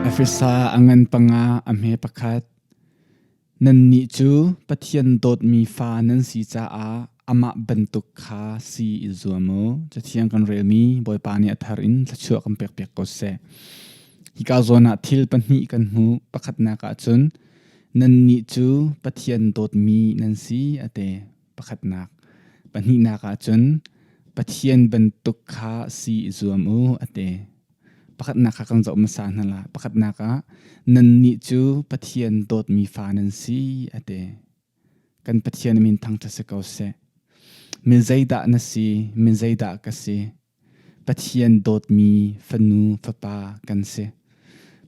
Efesa a ngan panga a hme pakhat. Nannih cu Pathian dawtmi fa nan si caah amah bantuk kha si i zuam u. Cathiang kan relmi Bawipa nih a thar in thluachuah kan pekpiak ko seh. Hika zawn ah thil pahnih kan hmu. Pakhatnak ah cun nannih cu Pathian dawtmi nan si a ti. pakhatnak pahnihnak ah cun pathian bantuk kha si i zuam u a ti pakhatnak kha kan zoh hmasa hna la pakhatnak ah nan nih cu pathian dawtmi fa nan si a ti kan pathian min thangṭhat si ko seh min zeidah na si min zeidah ka si Pathian dawtmi fanu fapa kan si.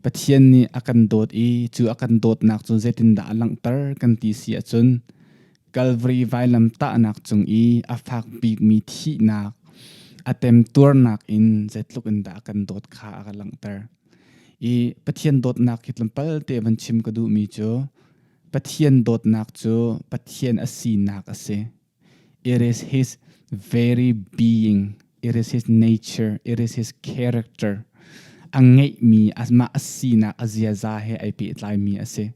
Pathian nih a kan dawt i cu a kan dawtnak cu zeitindah a langhter kan ti si ahcun Kalvari vailam tahnak cung i a fak bikmi thihnak a temtuarnak in zeitluk in dah a kan dawt kha a ka langhter. I Pathian dawtnak hi tlawmpal te van chim ka duhmi cu Pathian dawtnak cu Pathian a sinak a si. It is his very being, it is his nature, it is his character. A ngeihmi, mah a sinak a ziaza he ai pehtlaimi a si.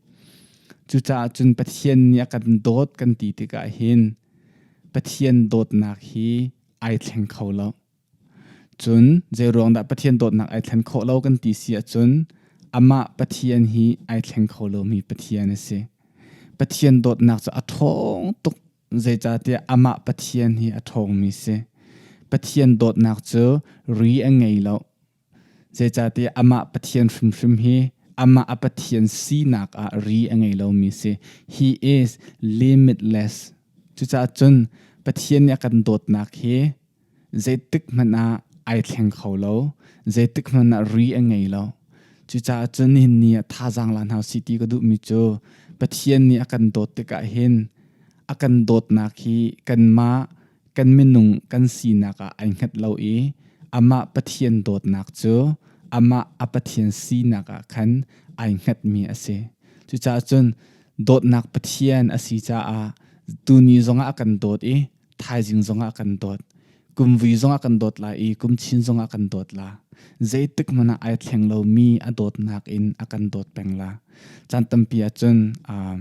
Cucaah cun Pathian nih a kan dawt kan ti tikah hin Pathian dawtnak hi ai thleng kho lo. Cun zeiruang dah Pathian dawtnak ai thlen khawh lo kan ti si ahcun amah Pathian hi ai thleng kho lomi Pathian a si. Pathian dawtnak cu a ṭhawng tuk zeicahtiah amah Pathian hi a ṭhawngmi si. Pathian dawtnak cu ri a ngei lo. Zeicahtiah amah Pathian hrimhrim hi amah a Pathian sinak ah ri a ngei lomi si. He is limitless. Cucaah cun Pathian nih a kan dawtnak hi zeitik hmanh ah ai thleng kho lo. Zeitik hmanh ah ri a ngei lo. Cucaah cun hin ni ah thazaang la hna si ti ka duhmi cu Pathian nih a kan dawt tikah hin a kan dawtnak hi kanmah kan minung kan sinak ah ai hngat lo i amah Pathian dawtnak cu amah a Pathian sinak ah khan ai hngatmi a si. Cucaah cun dawtnak Pathian a si caah tuni zongah kan dawt i thaizing zongah kan dawt. Kumvui zongah kan dawt la i kumchin zongah kan dawt la. Zeitik hmanh ah ai thleng lo mi a dawtnak in a kan dawt peng la. Caan tampi ah cun um,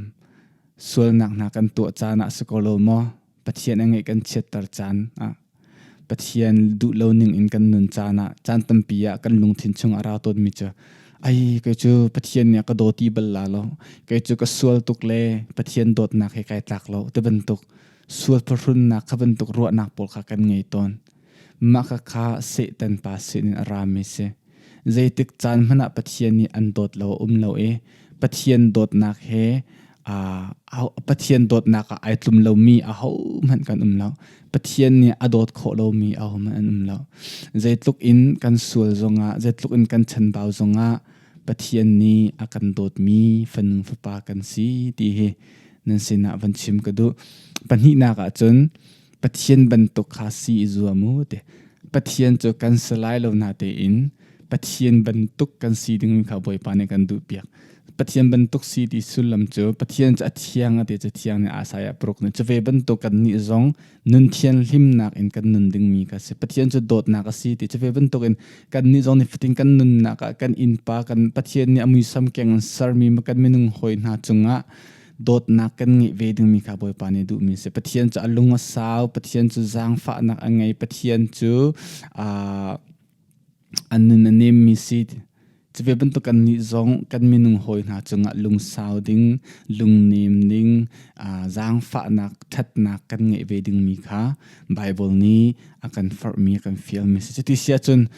sualnak hna kan tuah caan ah si ko lo maw? Pathian a ngeih kan chiatter caan ah Pathian duh lo ning in kan nun caan ah caan tampi ah kan lungthin chung a ra tawn mi cu ai kai cu Pathian nih ka dawti bal la lo kai cu ka sual tuk le Pathian dawtnak he kai tlak lo te bantuk sual pahrunnak kha bantuk ruahnak pawl kha kan ngei tawn Maka kha Satan pa sinin a rami si. Zeitik caan hmanh ah Pathian nih an dawt lo um lo i Pathian dawtnak he Pathian dawtnak ah ai tlum lomi a hohmanh kan um lo. Pathian nih a dawt khawh lomi a hohmanh an um lo. Zeitluk in kan sual zongah, zeitluk in kan chanbau zongah Pathian nih a kan dawtmi fanu fapa kan si ti hi nan sinah van chim ka duh. Pahnihnak ah cun Pathian bantuk kha si i zuam u ti. Pathian cu kan si lai lo na tein Pathian bantuk kan si ding kha Bawipa nih kan duh piak. Pathian bantuk si ti sullam cu Pathian cu a thiang a ti cu thiang nih asai a pruk ni cu ve bantuk kan nih zong nun thian hlimnak in kan nun dingmi ka si Pathian cu dawtnak a si ti cu ve bantuk in kan nih zong nih fatin kan nunnak ah kan innpa kan Pathian nih a muisam keng sermi kan minung hoi hna cungah dawtnak kan ngeih ve dingmi kha Bawipa nih duhmi si Pathian cu a lung a sau Pathian cu zaangfahnak a ngei Pathian cu a nun a nemmi si cuve bantuk kan nih zong kan minung hawi hna cungah lungsau ding lungnem ding zaangfahnak thatnak kan ngeih ve dingmi kha Bible nih a kan farhmi a kan fialmi si cuti sia cun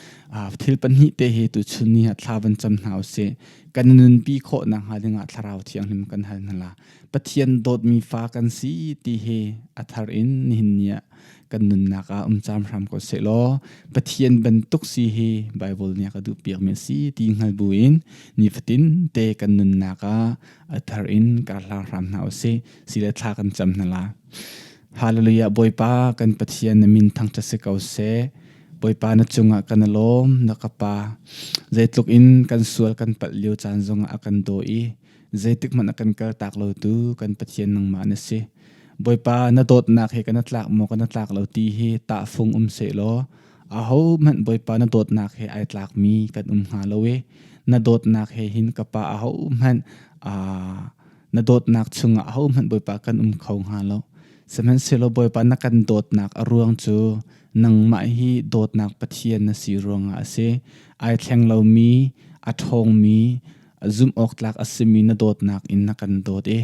thil pahnih te he tu chun ni ha thla van cam hna usih kan nunpi khawh nak hnga dingah thlarau thianghlim kan hal nala pathian dawtmi fa kan si ti he a thar in nihin nia kan nunnak ah um cham hram ko se law pathian bantuk si he bible nia ka du piak me si ti ngal bu in ni fatin te kan nunnak ah a thar in ka hla hram na o se sile thla kan cham nala hallelujah boipa kan pathian na min thang ta se ko se Bawipa na cungah kan lawm na ka pa zeitluk in kan sual kan palh lio caan zongah a kan daw i zeitik hmanh a kan kal tak lo tu kan Pathian nangmah na si Bawipa na dawtnak hi kana tlak maw kana tlak lo ti hi ta fung um se law aho hmanh Bawipa na dawtnak he ai tlak mi kan um hnga lo e na dawtnak he hin ka pa aho hmanh a na dawtnak chungah aho hmanh Bawipa kan um kho hnga lo sihmanhsehlaw Bawipa na kan dawtnak a ruang cu nangmah hi dawtnak pathian na si ruangah a si ai thleng lomi a ṭhawngmi zumhawktlak a simi na dawtnak in na kan dawt i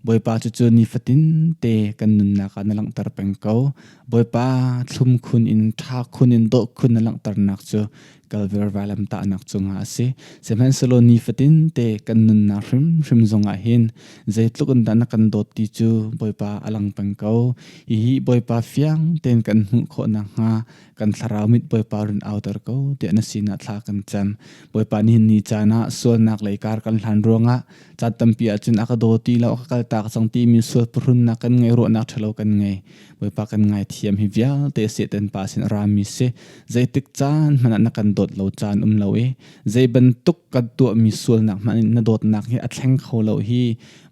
Bawipa cu cu nifatin te kan nunnak ah na langhter peng ko Bawipa thlum khun in ṭha khun in dawh khun na langhternak cu Kalver vailam tahnak cungah a si. Sihmanhsehlaw nifatin te kan nunnak hrimhrim zongah hin zeitluk in dah na kan dawt ti cu Bawipa a lang peng ko. Hihi Bawipa fiang tein kan hmuh khawh nakhnga kan thlarau mit Bawipa run auter ko ti na sinah thla kan cam. Bawipa nih ni caan ah sualnak lei kar kan hlan ruangah caan tampi ahcun a ka daw ti lo a ka kaltak cang timi sual purunnak kan ngei ruahnak ṭhalo kan ngei. Bawipa kan ngaithiam hi vialte seten pa sin rami si zeitik caan hmanh na kan dawt lo caan um lo i zei bantuk kan tuahmi sualnak hmanh na dawtnak hi a thleng kho lo hi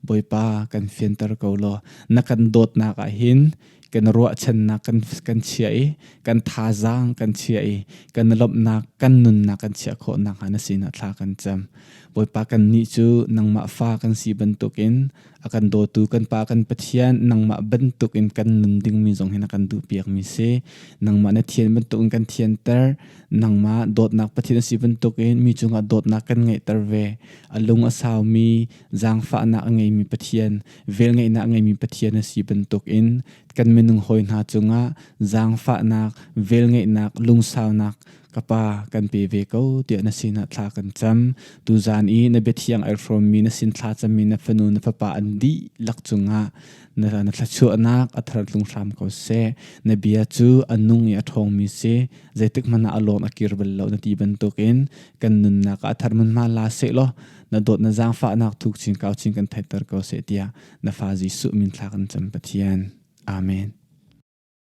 Bawipa kan fianter ko law na kan dawtnak ah hin kan ruahchannak kan kan chia i kan thazaang kan chia i kan lomhnak kan nunnak kan chia khawhnak ha na sinah thla kan cam Bawipa kan ni cu nangmah fa kan si bantukin a kan dawtu kan pa kan pathian nangmah bantuk in kan nun dingmi zong hin a kan duhpiak mi si nangmah na thian bantuk in kan thianter nangmah dawtnak pathian si bantuk in mi cungah dawtnak kan ngeihter ve a lung a sau mi zaangfahnak a ngei mi pathian velngeihnak a ngei mi pathian a si bantuk in kan minung hawi hna cungah zaangfahnak velngeihnak lungsaunak ka pa kan pe ve ko tiah na sin ah thla kan cam tu zan i na biathiang ai hrawm mi na sin thla cam mi na fanu na fapa an di lak cungah na na thlachuahnak a thar tlung hram ko se na bia cu a nung i a ṭhawng mi se zeitik hmanh ah a lawm a kir bal lo na ti bantuk in kan nunnak a thar mun ma la se law na dawt na zaangfahnak thuk chin kau chin kan theiter ko se tiah na fa Jesuh min thla kan cam Pathian amen